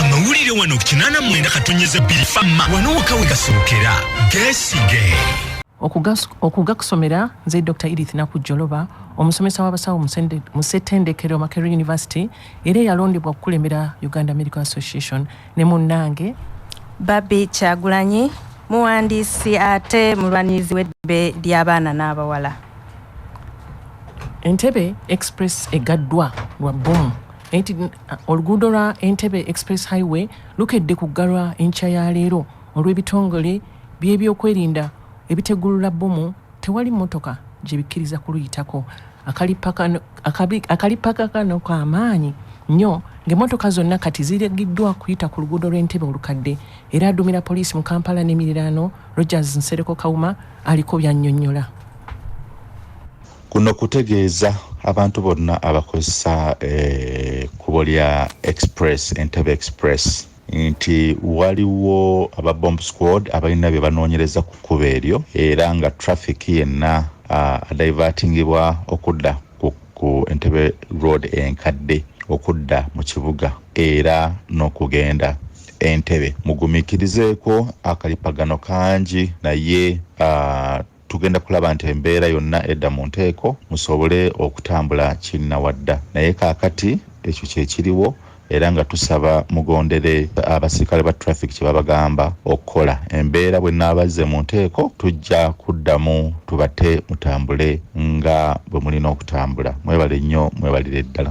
amawulire wano ku kinaana mwenda katonyeza bbiri famma wano waka we gasookera gesige okugakusomera nze dr edith nakujjoloba omusomesa w'abasawo mu ssetendekero makery university era eyalondebwa okukulembera uganda medical association ne munnange babi kyagulanyi muwandiisi ate mulwanirizi w'eddembe ly'abaana n'abawala entebe express egaddwa lwa bbomu Oluguudo lwa Entebbe Express Highway lukedde kuggalwa enkya ya leero olw'ebitongole by'ebyokwerinda ebitegulula bbomu tewali mmotoka gye bikkiriza kuluyitako. Akalippagano kano ka maanyi nnyo ng'emmotoka zonna kati ziragiddwa kuyita ku luguudo lw'e Ntebe olukadde era aduumira poliisi mu Kampala n'emiriraano Rogers Nsereko Kawuma aliko by'annyonnyola. Kuno kutegeeza abantu bonna abakozesa ekkubo eh, lya express entebe express nti waliwo aba bomb squad abalina bye banoonyereza ku kkubo eryo era nga traffic yenna ah, adaivatingibwa okudda ku entebe road enkadde okudda mu kibuga era n'okugenda entebe mugumikirizeeko akalipagano kangi naye ah, tugenda kulaba nti embeera yonna edda mu nteeko musobole okutambula kinnawadda naye kaakati ekyo kye kiriwo era nga tusaba mugondere abasirikale ba traffic kye babagamba okukola embeera bwe naabazze mu nteeko tujja kuddamu tubate mutambule nga bwe mulina okutambula mwebale nnyo mwebalire ddala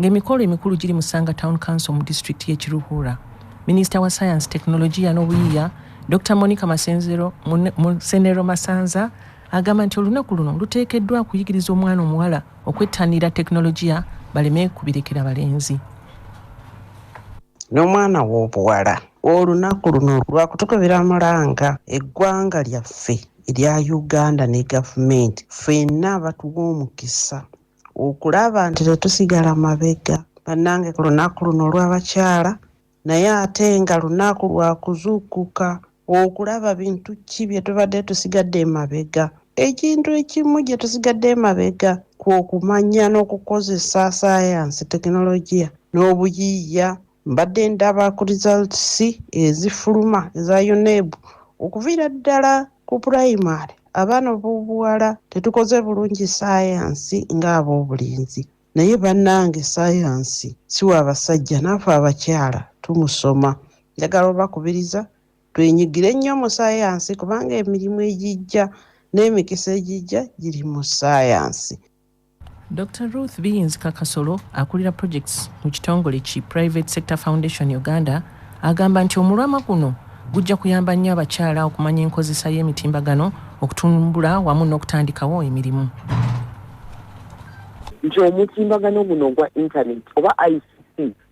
ng'emikolo emikulu giri mu Sanga Town Council mu disitulikiti y'e Kiruhura. Minisita wa Sayansi, Tekinologiya n'Obuyiiya, Dr Monica Masenzero Musenero Masanza agamba nti olunaku luno luteekeddwa kuyigiriza omwana omuwala okwettanira tekinologiya baleme kubirekera balenzi n'omwana w'obuwala olunaku luno lwakutukubira mulanga eggwanga lyaffe erya uganda ne gavumenti ffenna abatuwa omukisa okulaba nti tetusigala mabega bannange ku lunaku luno olw'abakyala naye ate nga lunaku lwa kuzuukuka okulaba bintu ki bye tubadde tusigadde emabega ekintu ekimu gye tusigadde emabega kwokumanya n'okukozesa sayansi tekinologiya n'obuyiiya Mbadde ndaba ku results ezifuluma eza UNEB okuviira ddala ku primary abaana b'obuwala tetukoze bulungi sayansi ng'ab'obulenzi naye bannange sayansi si wa basajja naafe abakyala tumusoma njagala obakubiriza twenyigire nnyo mu sayansi kubanga emirimu egijja n'emikisa egijja giri mu sayansi Dokita Ruth Biyinzika Kasolo akulira projects mu kitongole ki Private Sector Foundation Uganda agamba nti omulwama guno gujja kuyamba nnyo abakyala okumanya enkozesa y'emitimbagano okutumbula wamu n'okutandikawo emirimu nti omutimbagano guno ogwa internet oba ic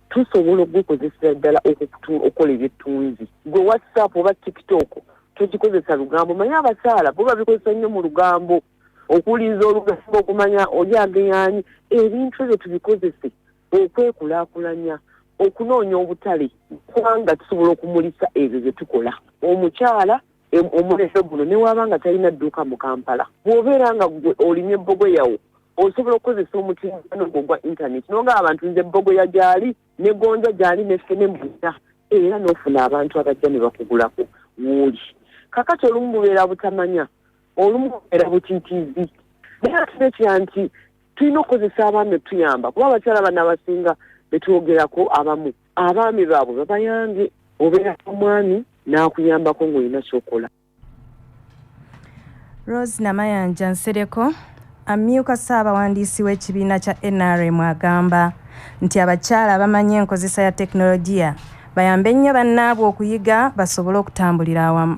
tusobola okugukozesera ddala okukola ebyettunzi gwe whatsapp oba tiktok togikozesa lugambo manye abakyala bo babikozesa nnyo mu lugambo okuwuliriza olugambo okumanya oli ageyaanyi ebintu ebyo tubikozese okwekulakulanya okunoonya obutale kubanga tusobola okumulisa ebyo bye tukola omukyala omulembe guno newaaba nga talina dduuka mu kampala bw'obeera nga gwe olimye ebbogo yawo osobola okukozesa omutimbano gwo ogwa intaneti noga abantu nze ebbogo ya gyali ne gonja gyali neffe ne mbuza era n'ofuna abantu abajja ne bakugulako wuuli kakati olumu bubeera butamanya olumu era butitiizi naye atuna ekira nti tulina okukozesa abaami otuyamba kuba abakyala bana abasinga betwogerako abamu abaami baabwe babayambye obeera omwami n'akuyambako ng'olina kyokola rose namayanja nsereko Amyuka Ssaabawandiisi w'ekibiina kya nrm agamba nti abakyala abamanyi enkozesa ya tekinologiya bayambe nnyo bannaabwe okuyiga basobole okutambulira awamu.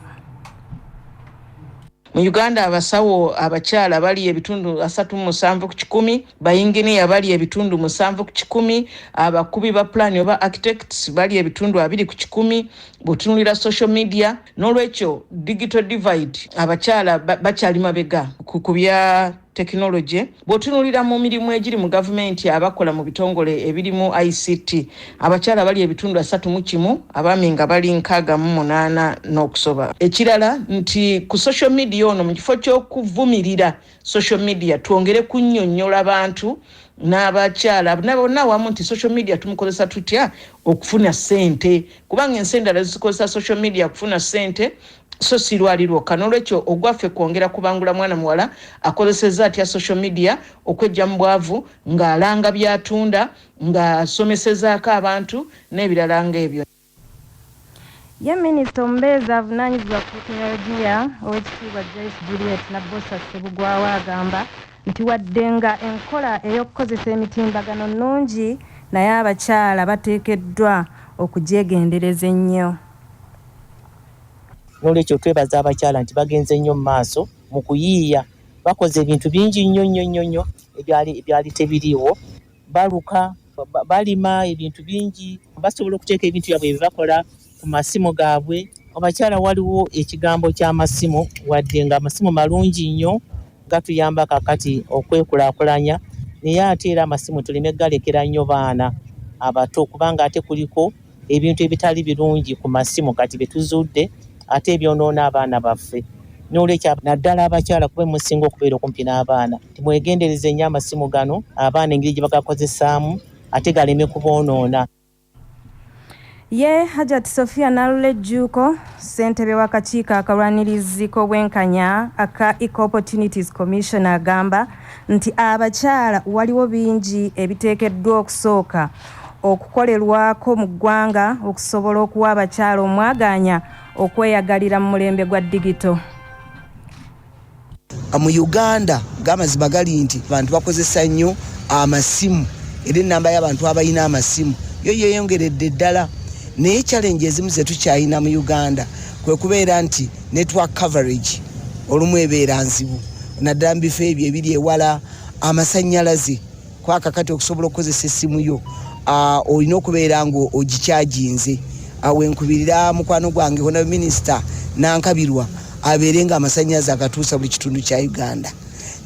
Mu Uganda abasawo abakyala bali ebitundu asatu mu musanvu ku kikumi, bayinginiya bali ebitundu musanvu ku kikumi, abakubi ba pulaani oba architects bali ebitundu abiri ku kikumi, bwotunulira social media n'olwekyo digital divide abakyala bakyali mabega ku bya tekinologi bwotunulira mu mirimu egiri mu gavumenti abakola mu bitongole ebirimu ict abakyala bali ebitundu asatu mu kimu abaami nga bali nkaaga mu munaana n'okusoba ekirala nti ku social media ono mu kifo ky'okuvumirira social media twongere kunyonyola bantu n'abakyala nabonna awamu nti social media tumukozesa tutya okufuna sente kubanga ensi endala zikozesa social media kufuna sente so sirwali lwokka n'olwekyo ogwaffe kwongera kubangula mwana muwala akozeseza atya social media okwejja mu bwavu ng'alanga byatunda ng'asomesezaako abantu n'ebirala ng'ebyo Ye Minisita omubeezi avunaanyizibwa ku tekinologiya Owekitiibwa Joyce Juliet Nabbosa Ssebugwawo agamba nti wadde nga enkola ey'okukozesa emitimbagano nnungi naye abakyala bateekeddwa okugyegendereza ennyo. N'olwekyo twebaza abakyala nti bagenze nnyo mu maaso mu kuyiiya, bakoze ebintu bingi nnyo nnyo nnyo ebyali ebyali tebiriiwo, baluka, balima ebintu bingi basobola okuteeka ebintu byabwe byebakola ku masimu gaabwe abakyala waliwo ekigambo ky'amasimu wadde nga amasimu malungi nnyo gatuyamba kakati okwekulakulanya naye ate era amasimu tuleme galekera nnyo baana abato kubanga ate kuliko ebintu ebitali birungi ku masimu kati bye tuzuudde ate ebyonoona abaana baffe n'olwekyo naddala abakyala kube musinga okubeera okumpi n'abaana timwegendereze nnyo amasimu gano abaana engeri gye bagakozesaamu ate galeme kuboonoona ye hajat sofia nalula ejjuuko ssentebe w'akakiiko akalwanirizi k'obwenkanya aka eco opportunities commission agamba nti abakyala waliwo bingi ebiteekeddwa okusooka okukolerwako mu ggwanga okusobola okuwa abakyala omwagaanya okweyagalira mu mulembe gwa digito. Mu Uganda gamazima gali nti abantu bakozesa nnyo amasimu era ennamba y'abantu abalina amasimu yo yeeyongeredde ddala naye challenge ezimu zetukyalina mu uganda kwe kubeera nti network coverage olumu ebeera nzibu naddala mu bifo ebyo ebiri ewala amasannyalaze kwaka kati okusobola okukozesa essimu yo ah, olina okubeera nga ogikyaginze awo ah, enkubirira mukwano gwange hona minisita nankabirwa abeere nga amasanyazi agatuusa buli kitundu kya uganda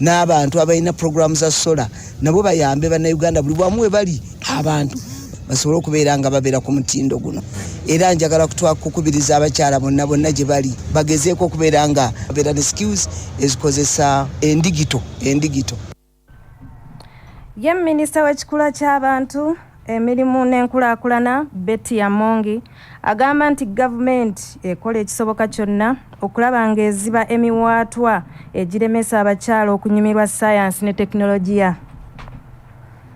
n'abantu abalina puroguramu za sola nabo bayambe bannayuganda buli bwamu we bali abantu basobole okubeera nga babeera ku mutindo guno era njagala kukubiriza abakyala bonna bonna gye bali bagezeeko okubeera nga babeera ne skills ezikozesa endigito endigito Ye minisita w'ekikula ky'abantu emirimu n'enkulaakulana Betty Amongi agamba nti gavumenti ekola ekisoboka kyonna okulaba ng'eziba emiwaatwa egiremesa abakyala okunyumirwa ssaayansi ne tekinologiya.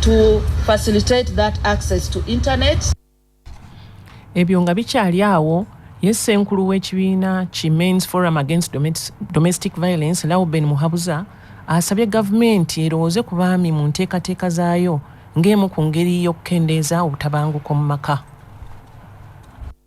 to facilitate that access to internet. Ebyo nga bikyali awo ye ssenkulu w'ekibiina ki Men's Forum Against Domestic Violence Lauben Muhabuza asabye gavumenti erowooze ku baami mu nteekateeka zaayo ng'emu ku ngeri y'okukendeeza obutabanguko mu maka.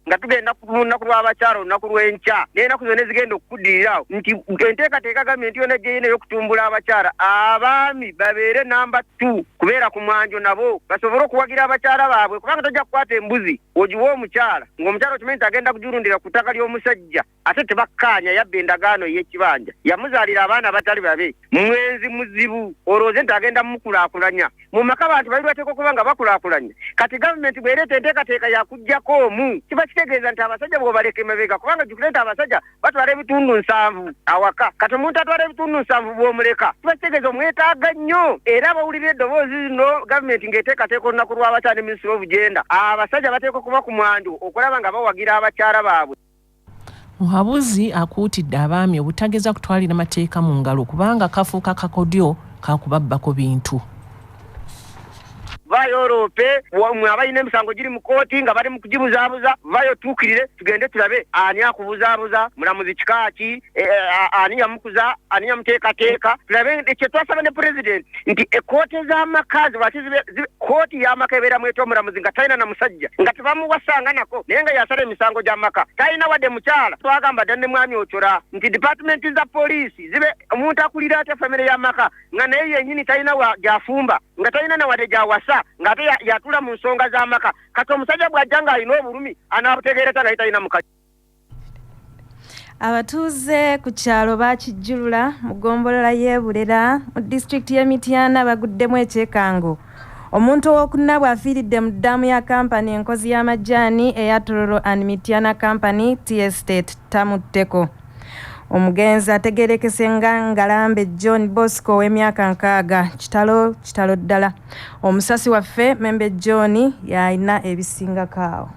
nga tugenda ku lunaku lw'abakyala olunaku lw'enkya n'enaku zona ezigenda okukuddirira awo nti enteekateeka gambye nti yona ejjeina ey'okutumbula abakyala abaami babeere namba t kubeera ku mwanjo nabo basobole okuwagira abakyala baabwe kubanga tojja kukwata embuzi ogiwa omukyala ng'omukyala okimanyi nti agenda kujirundira ku ttaka ly'omusajja ate tebakkaanya yabba endagaano ey'ekibanja yamuzaalira abaana abatali babe mwenzi muzibu olwooze nti agenda mukulaakulanya mu maka bantu bali lwateeka okuba nga bakulaakulanya kati gavumenti bwereeta enteekateeka yakugjako omu kiba kitegeeza nti abasajja bwobaleka emabega kubanga jukire nti abasajja batwala ebitundu nsanvu awaka kati omuntu atwala ebitundu nsanvu bwomuleka kiba kitegeeza omwetaaga nnyo era abawulira eddoboozi no gavumenti ng'eteekateeka olunaku lw'abakyala ne minisitiri obugenda abasajja bateeka okuba ku mwandu okulaba nga bawagira abakyala baabwe Muhabuzi akuutidde abaami obutageza kutwalira mateeka mu ngalo kubanga kafuuka kakodyo ka kubabbako bintu. Vaayo oloope mwe abalina emisango giri mu kkooti nga bali mu kugibuzaabuza, vaayo otuukirire tugende tulabe ani akubuzaabuza, mulamuzi kika ki, e, e, ani yamukuza ani yamuteekateeka tulabe kyetwasaba ne pulezidenti nti ekooti ez'amaka zibaki kooti y'amaka ebeera mweta omulamuzi nga talina na musajja nga tebamuwasanga nako naye nga yasala emisango gy'amaka talina wadde mukyala twagamba dda ne mwami ocola nti dipatimenti za poliisi zibe omuntu akulira atya famire y'amaka nga naye yenyini talina gyafumba nga talina na wadde gyawasa ng'ate yatula mu nsonga z'amaka kati omusajja bw'ajja ng'alina obulumi anaabutegeera ta naye talina mukazi Abatuuze ku kyalo Bakijjulula mu ggombolola y'e Bulera mu disitulikiti y'e Mityana baguddemu ekyekango. Omuntu ow'okuna bw'afiiridde mu ddaamu ya kampani enkozi y'amajaani eya Tororo and Mityana Company Tea Estate Tamutteko. Omugenzi ategeerekese nga Ngalambe John Bosco ow'emyaka nkaaga. Kitalo kitalo ddala. Omusasi waffe Membe John y'alina ebisingako awo.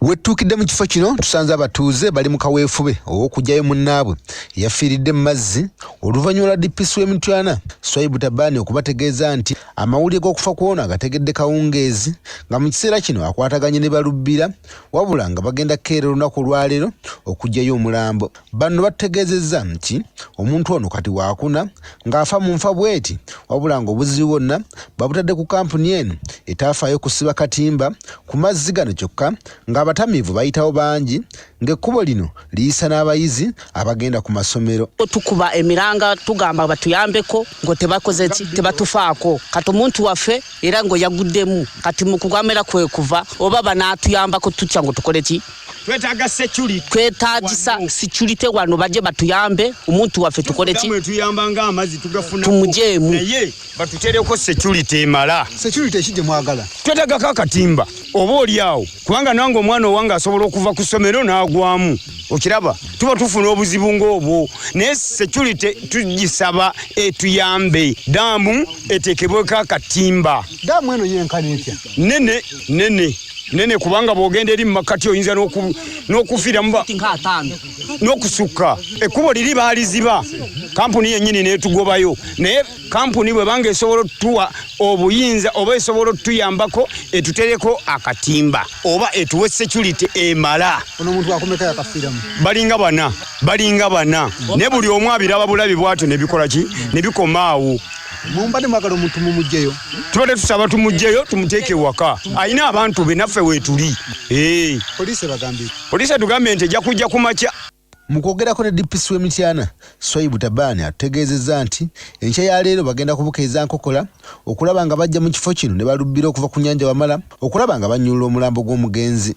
Wettuukidde mu kifo kino tusanze abatuuze bali mu kaweefube ow'okuggyayo munnaabwe eyafiiridde mu mazzi oluvannyuma lwa DPC w'e Mityana Swaibu Tabani okubategeeza nti amawulire g'okufa kw'ono agategedde kawungeezi nga mu kiseera kino akwataganye ne Balubbira wabula nga bagenda kukeera olunaku olwaleero okuggyayo omulambo. Bano bategeezezza nti omuntu ono kati waakuna ng'afa mu nfa bweti wabula ng'obuzibu bwonna babutadde ku kampuni eno etaafaayo kusiba katimba ku mazzi gano kyokka ng'abatamiivu bayitawo bangi ng'ekkubo lino liyisa n'abayizi abagenda ku masomero tukuba emiranga tugamba batuyambeko ngo tebakoze ki tebatufaako kati omuntu waffe era ngo yaguddemu kati mu kugamera kwe kuva oba banaatuyambako tutya ngo tukole ki twetaaga security twetaagisa security wano baje batuyambe omuntu waffe tukole ki tuyamba nga amazi tugafuna tumujeemu naye batutereko security emala security ekije mwagala twetaaga ka katimba oba oli awo kubanga nange omwana owange asobola okuva ku ssomero n'agwamu okiraba tuba tufuna obuzibu ng'obwo naye security tugisaba etuyambe daamu etekebweko akatimba daamu eno yenkana etya nene nene nene kubanga bwogenda eri mumakkati oyinza n'okufiiramu n'okusukka ekkubo liri baaliziba kampuni yennyini neetugobayo naye kampuni bwe banga esobola otutuwa obuyinza oba esobola otutuyambako etutereko akatimba oba etuwe security emala balinga bana balinga bana ne buli omu abiraba bulabi bwatyo nebikola ki nebikomaawo mumbade mwagala omuntu mumugyeyo tubadde tusaba tumugyeyo tumuteeke ewaka alina abantu be naffe weetuli eh. poliisi ebagambye poliisi etugambye nti ejja kujja ku makya mu kwogerako ne dpc w'e mityana swaibu tabaani atutegeezezza nti enkya ya leero bagenda kubuka eza nkokola okulaba nga bajja mu kifo kino ne balubbira okuva ku nyanja wamala okulaba nga bannyulula omulambo gw'omugenzi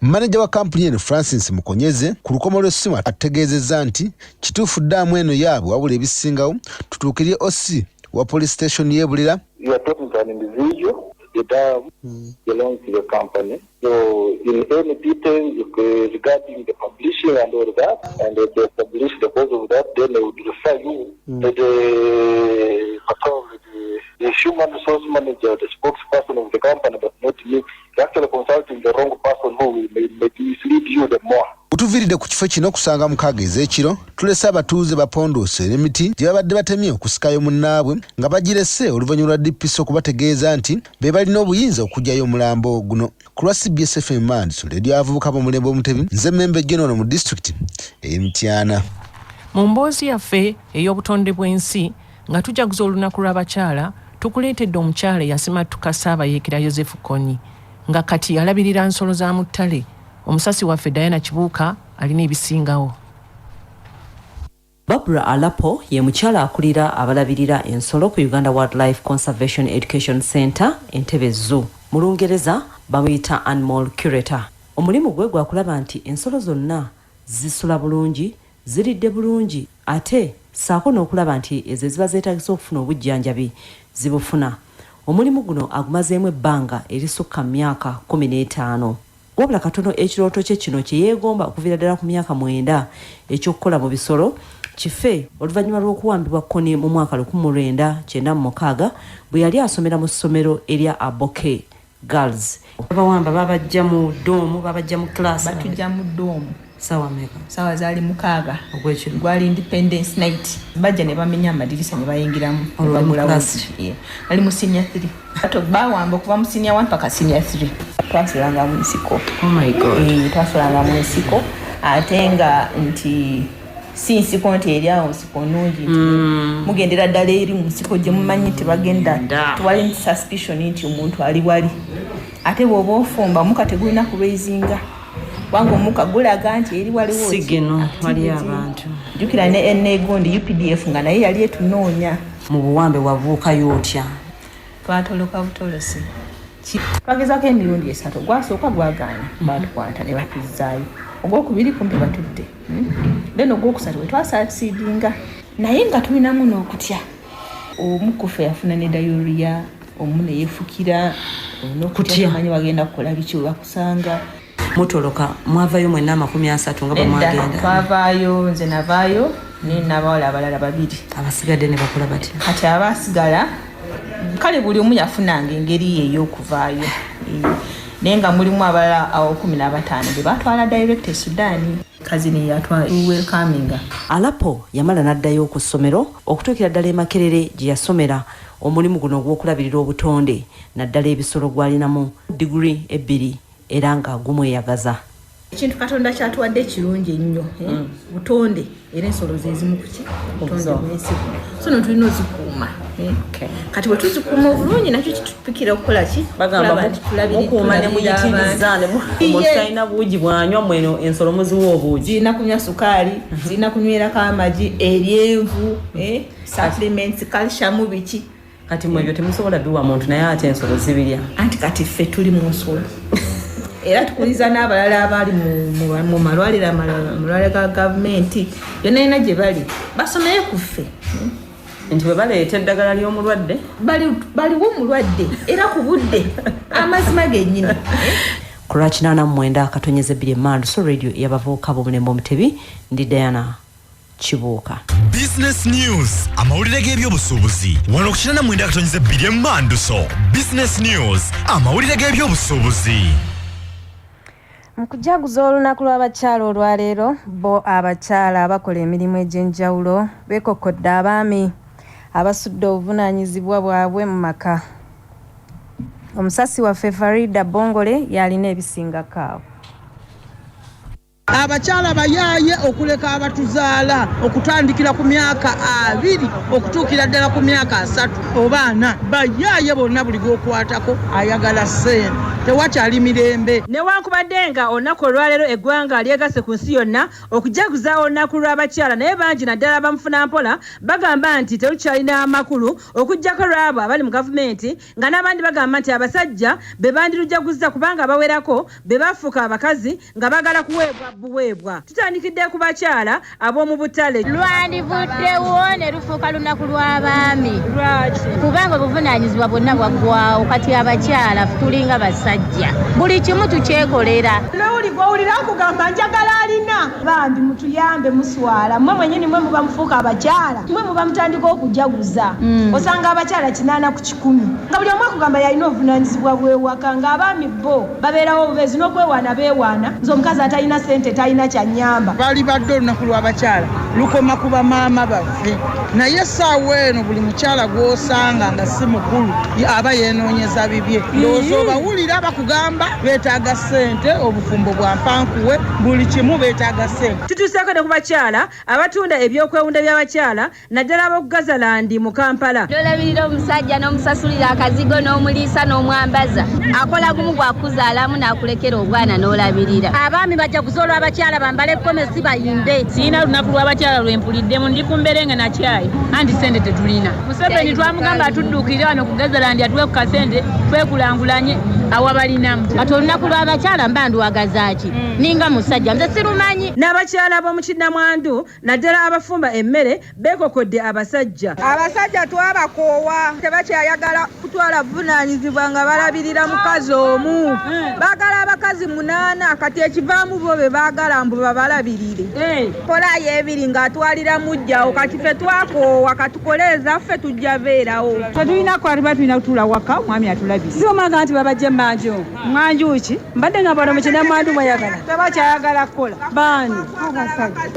Maneja wa kampuni eno Francis Mukonyeze ku lukomo lw'essimu ategeezezza nti kituufu ddaamu eno yaabwe wabula ebisingawo tutuukirire OC wa police station y'e Bulera Gutuviiridde ku kifo kino kusanga mukaaga ez'ekiro tulese abatuuze bapondoose emiti gye babadde batemye okusikayo munnaabwe nga bagirese oluvannyuma lwa DPC okubategeeza nti be balina obuyinza okuggyayo omulambo guno. Ku lwa cbs FM Mandiso, leediyo y'abavubuka b'omulembe Omutebi, nze Membe Jona ono mu disitulikiti ey'e Mityana. Mu mboozi yaffe ey'obutonde bw'ensi, Nga tujaguza olunaku lw'abakyala, tukuleetedde omukyala eyasimattuka Ssaabayeekera Yozefu Kony nga kati alabirira nsolo za mu ttale, omusasi waffe Diana Kibuuka alina ebisingawo. Barbra Alapo ye mukyala akulira abalabirira ensolo ku Uganda Wildlife Conservation Education Centre, Entebbe Zoo. Mu Lungereza bamuyita Animal Curator. Omulimu gwe gwa kulaba nti ensolo zonna zisula bulungi, ziridde bulungi ate ssaako n'okulaba nti ezo eziba zeetagisa okufuna obujjanjabi zibufuna. Omulimu guno agumazeemu ebbanga erisukka mu myaka kkumi n'etaano. Wabula katono ekirooto kye kino kye yeegomba okuviira ddala ku myaka mwenda eky'okukola mu bisolo kife oluvannyuma lw'okuwambibwa kkoni mu mwaka lukumi mu lwenda kyenda mu mukaaga bwe yali asomera mu ssomero erya Aboke girls babawamba babajja mu doomu babajja mu class batujja mu doomu sawa meka sawa zali mukaga ogwekiro gwali independence night bajja ne bamenya amadirisa ne bayingiramu olwagula wasi yeah. ali mu senior 3 ato bawamba okuva mu senior 1 paka senior 3 twasulanga mu nsiko oh my god eh, twasulanga mu nsiko ate nga nti si nsiko nti eri awo nsiko nungi mm. mugendera ddala eri mu nsiko gye mumanyi nti bagenda tewali nti suspicion nti omuntu ali wali ate bwoba ofumba omuka tegulina kulweizinga kubanga omuka gulaga nti eri waliwo jukira ne enegundi updf nga naye yali etunoonya mu buwambe wabuukayo otya twatoloka butolosi twagezako emirundi esatu gwasooka gwagaana batukwata ne batuzzaayo ogwokubiri kumpi batudde then ogwokusatu wetwasasidinga naye nga tulinamu n'okutya omu kufe yafuna ne dayoriya omu neyefukira nokutyamanya bagenda kukola biki webakusanga mutoloka mwavayo mwena amakumi asatu nga bwemwagenda twavaayo nze navaayo naye nabawala abalala babiri abasigadde nebakola batya kati abasigala kale buli omu yafunanga engeri ye ey'okuvaayo naye nga mulimu abalala awokumi n'abataano be batwala direct e sudaani kazini yatwa welcominga alapo yamala n'addayo ku ssomero okutuukira ddala emakerere gye yasomera omulimu guno ogw'okulabirira obutonde naddala ebisolo gwalinamu digiri ebbiri era nga gumweyagaza ekintu katonda kyatuwadde ekirungi ennyo eh? mm. butonde era ensolo zezimu kuki butondemunsiku so no tulina ozikuuma eh? kati bwe tuzikuuma obulungi nakyo kitupikira okukola ki bagambaukuumanemuyitinizaanemutalina buugi bwanywa mweno ensolo muziwa obuugi zirina kunywa sukaali mhm. zirina kunywerako amagi eryenvu eh? supplements calcium biki kati mwebyo temusobola biwa muntu naye ate ensolo zibirya anti kati ffe tuli mu nsolo era tukuliza n'abalala abali mu malwaliro amalwaliro ga gavumenti yona yona gye bali basomeyo ku ffe nti bwe baleeta eddagala ly'omulwadde baliwo omulwadde era ku budde amazima gennyini kulwakinana mumwenda akatonyeza ebbiri emandu so radio yabavubuka bomulembe omutebi ndi diana Kibuuka. Business News, amawulire g'ebyobusuubuzi wano ku kinana mwenda akatonyiza ebbiri emmanduso. Business News, amawulire g'ebyobusuubuzi. Mu kujaguza olunaku lw'abakyala olwaleero bo abakyala abakola emirimu egy'enjawulo beekokkodde abaami abasudde obuvunaanyizibwa bwabwe mu maka. Omusasi waffe Farida Bongole y'alina ebisinga kaawo. Abakyala bayaaye okuleka abatuzaala okutandikira ku myaka abiri okutuukira ddala ku myaka asatu oba ana. Bayaaye bonna buli gwokwatako ayagala ssente, tewakyali mirembe. Newankubadde nga olunaku olwaleero eggwanga lyegasse ku nsi yonna okujaguza olunaku lw'abakyala naye bangi naddala bamufunampola bagamba nti terukyalina makulu okuggyako lw'abo abali mu gavumenti nga n'abandi bagamba nti abasajja be bandirujaguzza kubanga abawerako be bafuuka abakazi nga baagala kuweebwa buweebwa. Tutandikidde ku bakyala ab'omu butale. Lwandivuddewo ne lufuuka lunaku lw'abaami kubanga obuvunaanyizibwa bwonna bwaggwawo kati abakyala tulinga basajja buli kimu tukyekolera. Lowuli gw'owulira akugamba njagala alina Bambi mutuyambe muswala mwe mwenyini mwe muba mufuuka abakyala mwe muba mutandika okujaguza osanga abakyala kinaana ku kikumi nga buli omu akugamba yalina obuvunanyizibwa bwewaka nga abaami bbo babeerawo obubeezi n'okwewaana beewaana nze omukazi atalina sente talina kyanyamba. Lwalibadde olunaku lw'abakyala lukoma ku bamaama baffe naye essaawa eno buli mukyala gw'osanga nga si mukulu aba yenoonyeza bibye ndowooza obawulira bakugamba beetaaga. sente obufumbo bwa mpankuwe buli kimu beetaaga sente. Tutuuseeko ne ku bakyala abatunda ebyokwewunda by'abakyala naddala ab'oku Gazalandi mu Kampala. N'olabirira omusajja n'omusasulira akazigo n'omuliisa n'omwambaza. Akola gumu gwa kukuzaalamu n'akulekera obwana n'olabirira. Abaami bajaguze olw'abakyala bambale gomesi bayimbe. Sirina lunaku lw'abakyala lwe mpuliddemu. Ndi ku mbere nga na kyayi anti ssente tetulina. museveni twamugamba atuddukire wano kugezera ndi atuwe ku kasente twekulangulanye awabalinamu kati olunaku lw'abakyala mba ndwagazaaki mm. ninga musajja nze sirumanyi n'abakyala b'omu kinnamwandu naddala abafumba emmere beekokodde abasajja abasajja twabakoowa tebakyayagala kutwala buvunaanyizibwa nga balabirira mukazi omu hmm. baagala abakazi munaana kati ekivaamu bo be baagala mbu babalabirire hmm. kolayo ebiri ng'atwalira mujjawo kati fe twakoowa katukole ezaffe tujja beerawo tetulina kwaliba tulina kutuula waka omwami atulabire si omwaga nti babajja emmanjo mwanjuki mbadde nga bano mukinamwandu mwayagala tebakyayagala kukola baani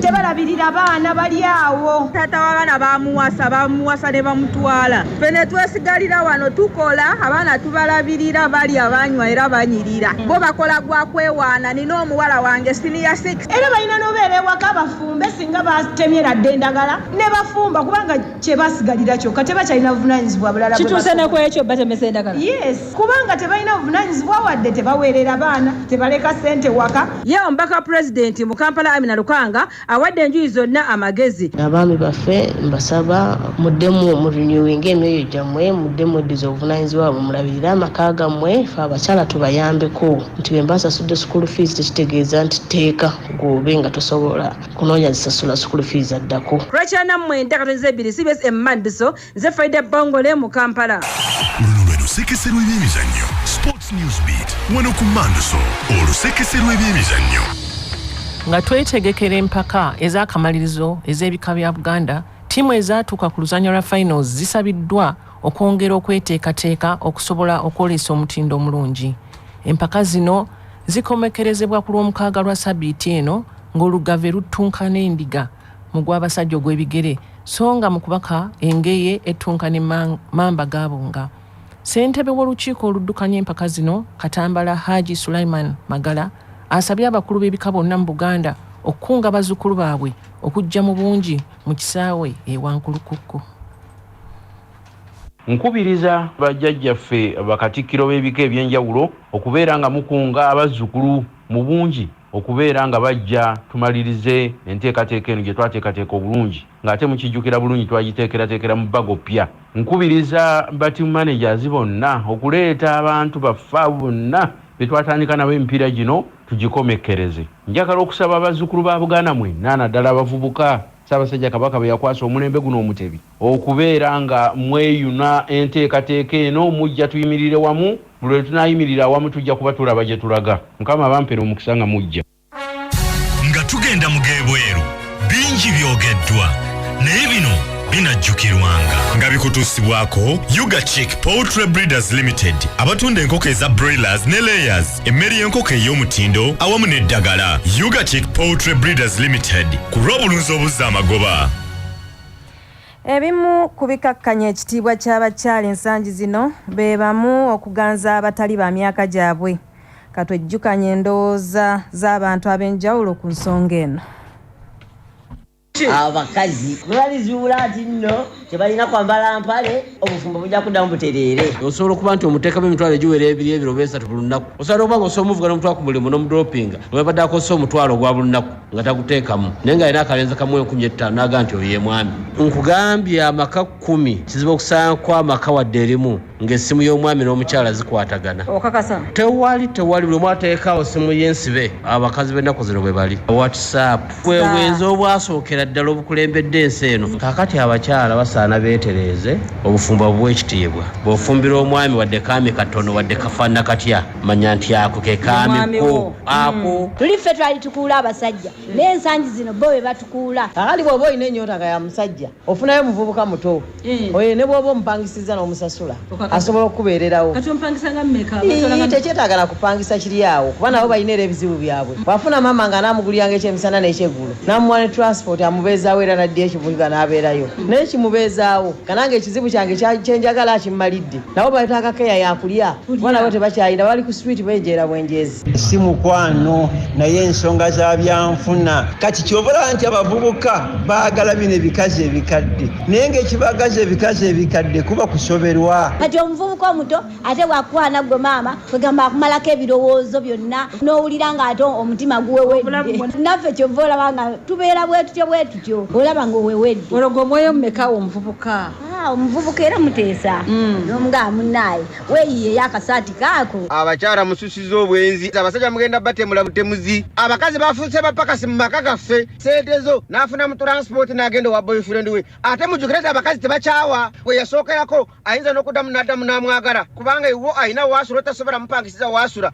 tebalabirira baana bali awo taata wabaana bamuwasa bamuwasa ne bamutwala fe ne twesigalira wano tukola abaana tubalabirira bali abanywa era banyirira bo bakola gwa kwewaana nina omuwala wange siniya six era balina nobeera ewaka bafumbe singa batemyera dde endagala ne bafumba kubanga kyebasigalira kyoka tebakyalina buvunanyizibwa bulala kituuse nekwekyo batemesa endagala yes kubanga tebalina buvunanyizibwa wadde tebaweerera baana tebaleka sente waka ye omubaka wa pulezidenti mu kampala amina lukanga awadde enjuyi zonna amagezi abaami baffe mbasaba muddemu mu renewing emyoyo gyammwe muddemu eddiza obuvunanyizibwa bwe mulabirire amaka gammwe fe abakyala tubayambeko nti bwe mbasasudde sukulu fees tekitegeeza nti tteeka gwobe nga tosobola Kunoonya zisasula school fees addako. Rachel Nammwe nte katonzi ebbiri cbs e Mandiso nze Friday Bbongole mu Kampala. Luno lwe lusekese lw'ebyemizannyo Sports News Beat wano ku Mandiso olusekese lw'ebyemizannyo. Nga twetegekera empaka ez'akamalirizo ez'ebika bya Buganda, ttiimu ezaatuuka ku luzannya lwa finals zisabiddwa okwongera okweteekateeka okusobola okwoleesa omutindo omulungi. Empaka zino zikomekkerezebwa ku lwomukaaga lwa sabiiti eno. Ng'olugave luttunka n'endiga mu gw'abasajja ogw'ebigere, so nga mu kubaka engeye ettunka ne mamba gaabunga. Ssentebe w'olukiiko oluddukanya empaka zino Katambala Haji Sulaiman Magala asabye abakulu b'ebika bonna mu Buganda okukunga bazzukulu baabwe okujja mu bungi mu kisaawe e Wankulukukku. Nkubiriza bajjajjaffe bakatikkiro b'ebika eby'enjawulo okubeera nga mukunga abazzukulu mu bungi okubeera nga bajja tumalirize enteekateeka eno gye twateekateeka obulungi ng'ate mukijjukira bulungi twagiteekerateekera mu bbago ppya. Nkubiriza ba Team Managers bonna okuleeta abantu baffe abo bonna be twatandika nabo emipiira gino tugikomekkereze. Njagala okusaba bazzukulu ba Buganda mwenna naddala abavubuka Ssaabasajja Kabaka be yakwasa omulembe guno Omutebi, Okubeera nga mweyuna enteekateeka eno mujja tuyimirire wamu, buli lwe tunaayimirira awamu tujja kuba tulaba gye tulaga. Mukama abampere omukisa nga mujja. Nga tugenda mu g'ebweru, bingi byogeddwa naye bino binajjukirwanga. Nga bikutuusibwako Uga Chick Poultry Breeders Limited abatunda enkoko eza Broilers ne Layers, emmere y'enkoko ey'omutindo awamu n'eddagala. Uga Chick Poultry Breeders Limited ku lw'obulunzi obuzza amagoba. Ebimu ku bikakkanya ekitiibwa ky'abakyala ensangi zino be bamu okuganza abatali ba myaka gyabwe. Katwejjukanye endowooza z'abantu ab'enjawulo ku nsonga eno. Abakazi bwe balizuula nti nno tebalina kwambala mpale obufumbo bujja kuddamu butereere osobola okuba nti omuteekamu emitwalo egiwera ebiri ebiro oba esatu buli lunaku osobola okuba nga osobola omuvuga n'omutwalo ku mulimu n'omudropinga webadde akozesa omutwalo ogwa buli lunaku nga taguteekamu naye nga alina akalenzi kamu enkumi ettaano naga nti oyo yemwami nkugambye amaka kkumi kizibu okusaanko amaka wadde erimu ng'essimu y'omwami n'omukyala zikwatagana okakasa tewali tewali buli omu ateekaawo ssimu y'ensibe abakazi b'ennaku zino bwe bali whatsapp bwebwenzi obwasookera ddala obukulembedde ensi eno kakati abakyala basaana beetereeze obufumbo buwa ekitiibwa bw'ofumbira omwami wadde kaami katono wadde kafaanana katya manya nti ako ke kaami ko ako hmm. tuli ffe twali tukuula abasajja naye ensangi zino bo be batukuula kakati bw'oba olina ennyota nga ya musajja ofunayo omuvubuka muto eh. oyo ne bwoba omupangisizza n'omusasula asobola okukubeererawo tekyetagala kupangisa kiri awo kuba nabo balina era ebizibu byabwe mm. wafuna maama nga anamuguliranga ekyemisana n'ekyeggulo namuwa ne transport amubeezaawo era naddi ekibuga n'abeerayo mm. naye kimubeezaawo kananga ekizibu kyange kyenjagala akimmalidde nabo baleeta akakeya yakulya kuba nabo tebakyalina bali ku swit benjeera bwenjeezi si mukwano naye ensonga za byanfuna kati kyobalaba nti abavubuka baagala bino ebikazi ebikadde naye ngaekibagaza ebikazi ebikadde kuba kusoberwa kati omuvubuka omuto ate bwakukwana gwe maama kwegamba akumalako ebirowoozo byonna n'owulira ng'ate omutima guwewedde naffe kyova olaba nga tubeera bwetutyo bwetutyo olaba nga owewedde olwo gwe omwoyo mumekawo omuvubuka ah, omuvubuka era muteesa mm. nomugaa munaaye weyiye yakasaati kaako abakyala mususiza obwenzi abasajja mugenda batemula butemuzi abakazi bafuuse bapakasi mu maka gaffe sente zo n'afuna mu transport n'agenda owa boyfriend we ate mujukire nti abakazi tebakyawa we yasookerako ayinza n'okuddamu n'addamu n'amwagala kubanga iwo alina waasula otasobola mupangisiza waasula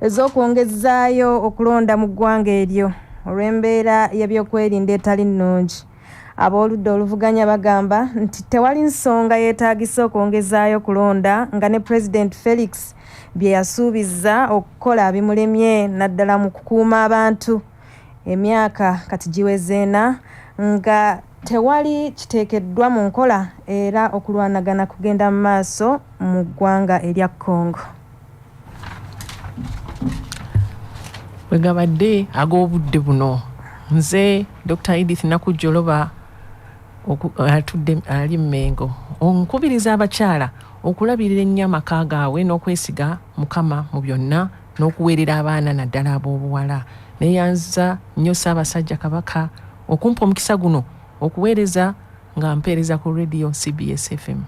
ez'okwongezaayo okulonda mu ggwanga eryo olw'embeera y'ebyokwerinda etali nnungi ab'oludda oluvuganya bagamba nti tewali nsonga yeetaagisa okwongezaayo okulonda nga ne pulezidenti felix bye yasuubizza okukola bimulemye naddala mu kukuuma abantu Emyaka kati giweze ena nga tewali kiteekeddwa mu nkola era okulwanagana kugenda mu maaso mu ggwanga erya Congo. Bwe gabadde ag'obudde buno, nze Dokita Edith Nakujjoloba atudde ali Mmengo nkubiriza abakyala okulabirira ennyo amaka gaabwe n'okwesiga Mukama mu byonna. n'okuweerera abaana naddala ab'obuwala. Neeyanziza nnyo Ssaabasajja Kabaka okumpa omukisa guno okuweereza nga mpeereza ku Radio CBS FM.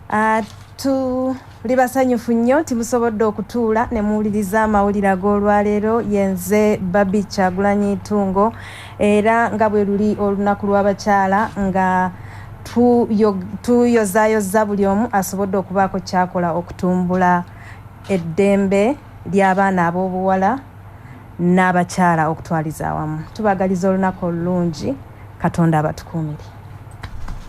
Uh, tuli basanyufu nnyo nti musobodde okutuula ne muwuliriza amawulire ag'olwaleero yenze babi kyagulanyi ntungo era nga bwe luli olunaku lw'abakyala nga tuyozayoza buli omu asobodde okubaako kyakola okutumbula eddembe ly'abaana ab'obuwala n'abakyala okutwaliza awamu. Tubaagaliza olunaku olulungi. Katonda abatukuumire.